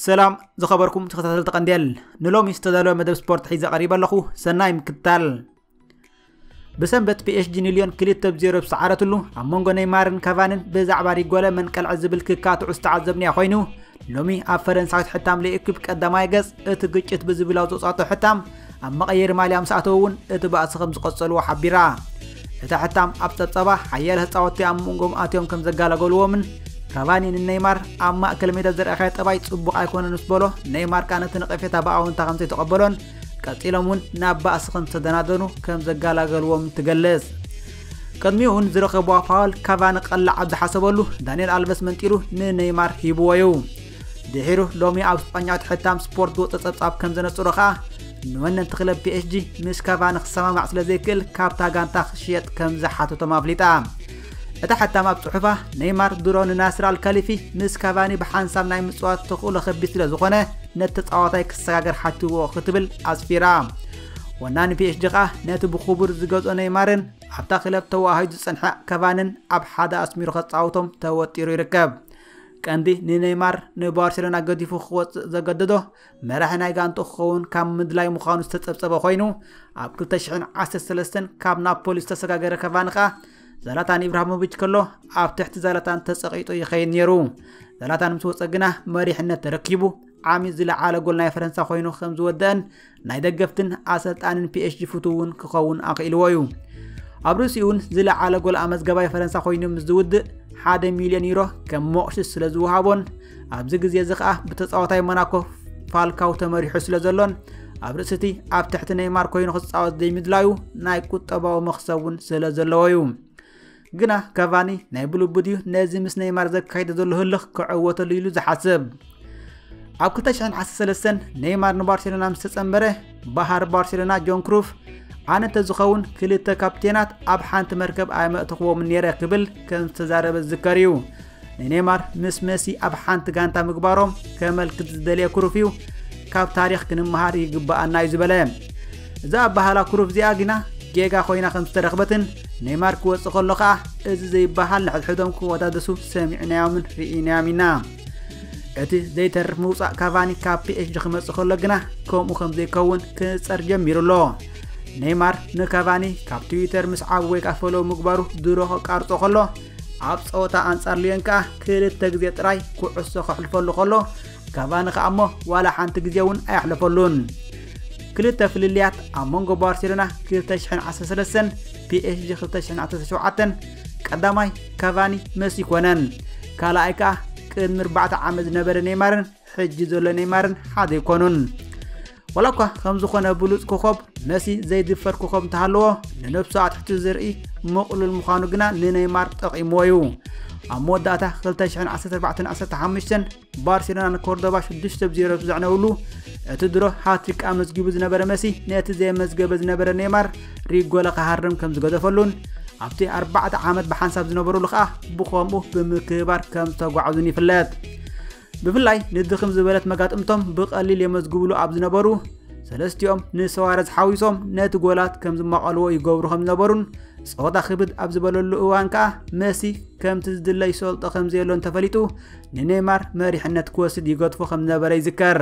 ሰላም ዝኸበርኩም ተኸታተልቲ ቀንዴል ንሎሚ ዝተዳለወ መደብ ስፖርት ሒዘ ቀሪበ ኣለኹ ሰናይ ምክትታል ብሰንበት ፒኤስጂ ንልዮን ክልተ ብ ዜሮ ዝሰዓረትሉ ኣብ መንጎ ነይማርን ካቫንን ብዛዕባ ሪጎለ መን ቀልዐ ዝብል ክካትዑ ዝተዓዘብንያ ኮይኑ ሎሚ ኣብ ፈረንሳዊት ሕታም ለኢክብ ቀዳማይ ገጽ እቲ ግጭት ብዝብል ኣውፅፃቶ ሕታም ኣብ መቐየሪ ማልያ ምስ ኣተው እውን እቲ ባእሲ ከም ዝቐጸልዎ ሓቢራ እታ ሕታም ኣብ ጸብጸባ ሓያለ ተጻወትቲ ኣብ መንጎም ኣትዮም ከም ዘጋላገሉዎምን ካቫኒ ንነይማር ኣብ ማእከል ሜዳ ዘርኣኻዮ ጠባይ ጽቡቕ ኣይኮነን ምስ በሎ ነይማር ቃ ነቲ ነቐፌታ ብኣወንታ ከም ዘይተቐበሎን ቀጺሎም እውን ናብ ባእሲ ከም ዝተደናደኑ ከም ዘጋላገልዎም ትገልጽ ቅድሚኡ እውን ዝረኸብዋ ፋውል ካቫኒ ቀላዕ ኣብ ዝሓሰበሉ ዳንኤል ኣልቨስ መንጢሩ ንነይማር ሂብዎ እዩ ድሒሩ ሎሚ ኣብ ስጳኛዊት ሕታም ስፖርት ዝወፀ ጸብጻብ ከም ዘነጽሮ ኸኣ ንወነንቲ ክለብ ፒኤስጂ ምስ ካቫኒ ክሰማማዕ ስለ ዘይክእል ካብታ ጋንታ ክሽየጥ ከም ዝሓተቶም ኣፍሊጣ እታ ሓታም ኣብ ጽሑፋ ነይማር ድሮ ንናስር ኣልካሊፊ ምስ ካቫኒ ብሓንሳብ ናይ ምጽዋት ተኽእሎ ከቢድ ስለ ዝኾነ ነቲ ተጻዋታይ ክሰጋገር ሓትዎ ክትብል ኣስፊራ ወናኒ ፒኤችዲ ከኣ ነቲ ብኽቡር ዝገዝኦ ነይማርን ኣብታ ክለብ ተወሃሂዱ ዝጸንሐ ከቫንን ኣብ ሓደ ኣስሚሩ ከጻውቶም ተወጢሩ ይርከብ ቀንዲ ንነይማር ንባርሴሎና ገዲፉ ክወጽእ ዘገደዶ መራሒ ናይ ጋንቱ ክኸውን ካብ ምድላይ ምዃኑ ዝተጸብጸበ ኮይኑ ኣብ 2013 ካብ ናፖሊ ዝተሰጋገረ ከቫኒ ከኣ ዘላታን ኢብራሂሞቪች ከሎ ኣብ ትሕቲ ዘላታን ተጸቒጡ ይኸይድ ነይሩ ዘላታን ምስ ወፀ ግና መሪሕነት ተረኪቡ ዓሚ ዝለዓለ ጎል ናይ ፈረንሳ ኮይኑ ከም ዝወደአን ናይ ደገፍትን ኣሰልጣንን ፒኤችዲ ፍቱ እውን ክኸውን ኣኽኢልዎ እዩ ኣብ ርእሲኡን ዝለዓለ ጎል ኣመዝገባይ ፈረንሳ ኮይኑ ምስ ዝውድእ ሓደ ሚልዮን ዩሮ ከም ሞቕሽሽ ስለ ዝውሃቦን ኣብዚ ግዜ እዚ ከኣ ብተጻዋታይ ሞናኮ ፋልካው ተመሪሑ ስለ ዘሎን ኣብ ርእሲ እቲ ኣብ ትሕቲ ነይማር ኮይኑ ክጻወት ዘይምድላዩ ናይ ቁጠባዊ መኽሰብ እውን ስለ ዘለዎ እዩ ግና ካቫኒ ናይ ብልቡድ እዩ ነዚ ምስ ነይማር ዘካይደ ዘሎ ህልኽ ክዕወተሉ ኢሉ ዝሓስብ ኣብ 213 ነይማር ንባርሴሎና ምስ ተጸንበረ ባህር ባርሴሎና ጆን ክሩፍ ኣነ እንተዝኸውን ክልተ ካፕቴናት ኣብ ሓንቲ መርከብ ኣይመእተኽዎም ነይረ ክብል ከም ዝተዛረበ ዝዝከር እዩ ንኔማር ምስ መሲ ኣብ ሓንቲ ጋንታ ምግባሮም ከመልክት ዝደለየ ኩሩፍ እዩ ካብ ታሪኽ ክንመሃር ይግብኣና እዩ ዝበለ እዛ ኣበሃላ ኩሩፍ እዚኣ ግና ጌጋ ኮይና ከም ዝተረኽበትን ኔማር ክወፅእ ከሎ ከዓ እዚ ዘይበሃል ንሕድሕዶም ክወዳደሱ ሰሚዕናዮምን ርኢናዮም ኢና እቲ ዘይተርፍ ምውፃእ ካቫኒ ካብ ፒኤችዲ ክመፅእ ከሎ ግና ከምኡ ከም ዘይከውን ክፀር ጀሚሩ ኣሎ ኔይማር ንካቫኒ ካብ ትዊተር ምስ ዓብ ወይ ከዓ ፈለው ምግባሩ ድሮ ከቃርፆ ከሎ ኣብ ጸወታ ኣንጻር ልዮን ከኣ ክልተ ግዜ ጥራይ ኩዕሶ ከሕልፈሉ ከሎ ካቫኒ ከኣ እሞ ዋላ ሓንቲ ግዜ እውን ኣየሕለፈሉን ክልተ ፍልልያት ኣብ መንጎ ባርሴሎና 213ን ፒኤስጂ 217 ቀዳማይ ካቫኒ መሲ ኮነን ካልኣይ ከኣ ቅድሚ 4 ዓመት ዝነበረ ኔይማርን ሕጂ ዘሎ ኔይማርን ሓደ ኣይኮኑን። ዋላ እኳ ከም ዝኾነ ብሉጽ ኮኾብ መሲ ዘይድፈር ኮኾብ እንተሃለዎ ንነብሱ ኣትሕቱ ዝርኢ ምቕሉል ምዃኑ ግና ንነይማር ጠቒምዎ እዩ ኣብ መወዳእታ 2014-15 ባርሴሎና ንኮርዶባ 6 ብ 0 ዘዕነብሉ እቲ ድሮ ሃትሪክ ኣመዝጊቡ ዝነበረ መሲ ነቲ ዘየመዝገበ ዝነበረ ነይማር ሪጎለ ክሃርም ከም ዝገደፈሉን ኣብቲ ኣርባዕተ ዓመት ብሓንሳብ ዝነበሩሉ ከዓ ብኸምኡ ብምክብባር ከም ዝተጓዕዙን ይፍለጥ ብፍላይ ንድኽም ዝበለት መጋጥምቶም ብቐሊል የመዝግብሉ ኣብ ዝነበሩ ሰለስቲኦም ንሰዋረዝ ሓዊሶም ነቲ ጎላት ከም ዝማቐልዎ ይገብሩ ከም ዝነበሩን ጸወታ ክብድ ኣብ ዝበለሉ እዋን ከኣ መሲ ከምቲ ዝድለ ይሰልጦ ከም ዘየሎን ተፈሊጡ ንኔይማር መሪሕነት ክወስድ ይገድፎ ከም ዝነበረ ይዝከር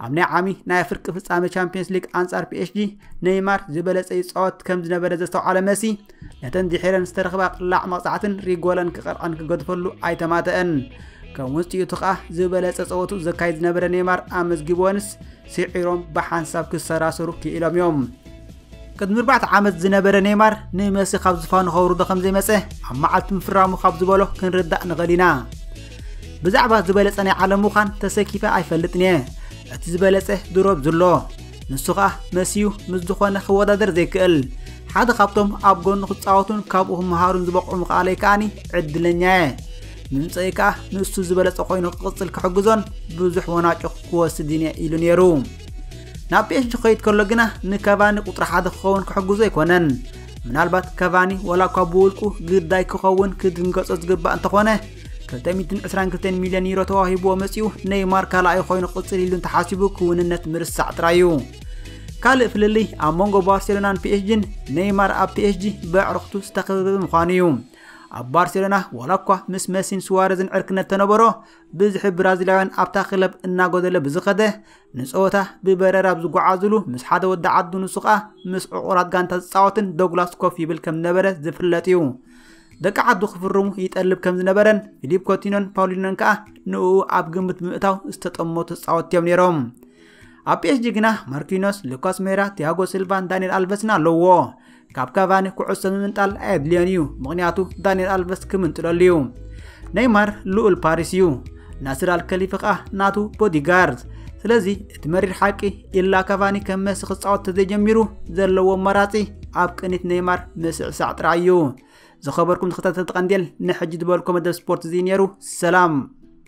ኣብ ናይ ዓሚ ናይ ፍርቂ ፍጻመ ቻምፒየንስ ሊግ ኣንጻር ፒኤስጂ ነይማር ዝበለጸ ይጻወት ከም ዝነበረ ዘስተውዓለ መሲ ነተን ድሒረን ዝተረኽባ ቅላዕ መቕጻዕትን ሪጎለን ክቐርዐን ክገድፈሉ ኣይተማተአን ከም ውጽኢቱ እቲ ኸኣ ዝበለጸ ጸወቱ ዘካይድ ዝነበረ ነይማር ኣመዝጊቦንስ ስዒሮም ብሓንሳብ ክሰራሰሩ ክኢሎም እዮም ቅድሚ ኣርባዕተ ዓመት ዝነበረ ኔይማር ንመሲ ካብ ዝፋኑ ከውርዶ ከም ዘይመጸ ኣብ መዓልቲ ምፍራሙ ካብ ዝበሎ ክንርዳእ ንኽእል ኢና ብዛዕባ ዝበለጸ ናይ ዓለም ምዃን ተሰኪፈ ኣይፈልጥን እየ እቲ ዝበለጸ ድሮብ ዝሎ ንሱ ኸኣ መሲዩ ምስ ዝኾነ ክወዳደር ዘይክእል ሓደ ካብቶም ኣብ ጎኑ ክፃወቱን ካብኡ ክመሃሩን ዝበቕዑ ምኽኣለይ ከኣኒ ዕድለኛ እየ ምምፀኢ ከኣ ንሱ ዝበለጸ ኮይኑ ክቕፅል ክሕግዞን ብዙሕ ወናጩ ክወስድን እየ ኢሉ ነይሩ ናብ ፒኤስጂ ክኸይድ ከሎ ግና ንከቫኒ ቁጥሪ ሓደ ክኸውን ክሕግዞ ኣይኮነን ምናልባት ከቫኒ ወላ እኳ ብውልቁ ግዳይ ክኸውን ክድንገጾ ዝግባእ እንተኾነ 222 ሚልዮን ዩሮ ተዋሂብዎ መጺኡ ነይማር ካልኣይ ኮይኑ ክቕጽል ኢሉ እንተሓሲቡ ክውንነት ምርሳዕ ጥራይ እዩ ካልእ ፍልልይ ኣብ መንጎ ባርሴሎናን ፒኤስጂን ነይማር ኣብ ፒኤስጂ ብኣዕርኽቱ ዝተኸበበ ምዃኑ እዩ ኣብ ባርሴሎና ዋላ እኳ ምስ መሲን ስዋረዝን ዕርክነት ተነበሮ ብዝሒ ብራዚላውያን ኣብታ ክለብ እናጎደለ ብዝኸደ ንፀወታ ብበረራ ኣብ ዝጓዓዝሉ ምስ ሓደ ወዲ ዓዱ ንሱ ከኣ ምስ ዕቑራት ጋንታ ዝፃወትን ዶግላስ ኮፍ ይብል ከም ዝነበረ ዝፍለጥ እዩ ደቂ ዓዱ ክፍርሙ ይጠልብ ከም ዝነበረን ፊሊፕ ኮቲኖን ፓውሊኖን ከኣ ንኡ ኣብ ግምት ብምእታው ዝተጠመቱ ተፃወትቲ እዮም ነይሮም ኣብ ፒኤስጂ ግና ማርኪኖስ ሉካስ ሜራ ቲያጎ ሲልቫን ዳንኤል ኣልቨስን ኣለዎ ካብ ካቫኒ ኩዕሶ ምምንጣል ኣየድልዮን እዩ ምክንያቱ ዳንኤል ኣልቨስ ክምንጥለሉ እዩ ነይማር ልኡል ፓሪስ እዩ ናስር ኣልከሊፊ ከዓ ናቱ ቦዲጋርድ ስለዚ እቲ መሪር ሓቂ ኢላ ካቫኒ ከም መሲ ክፃወት ተዘይጀሚሩ ዘለዎ መራፂ ኣብ ቅኒት ነይማር ምስዕሳዕ ጥራይ እዩ ዝኸበርኩም ተኸታተልቲ ቀንዴል ንሕጂ ዝበልኮ መደብ ስፖርት እዚ ነይሩ ሰላም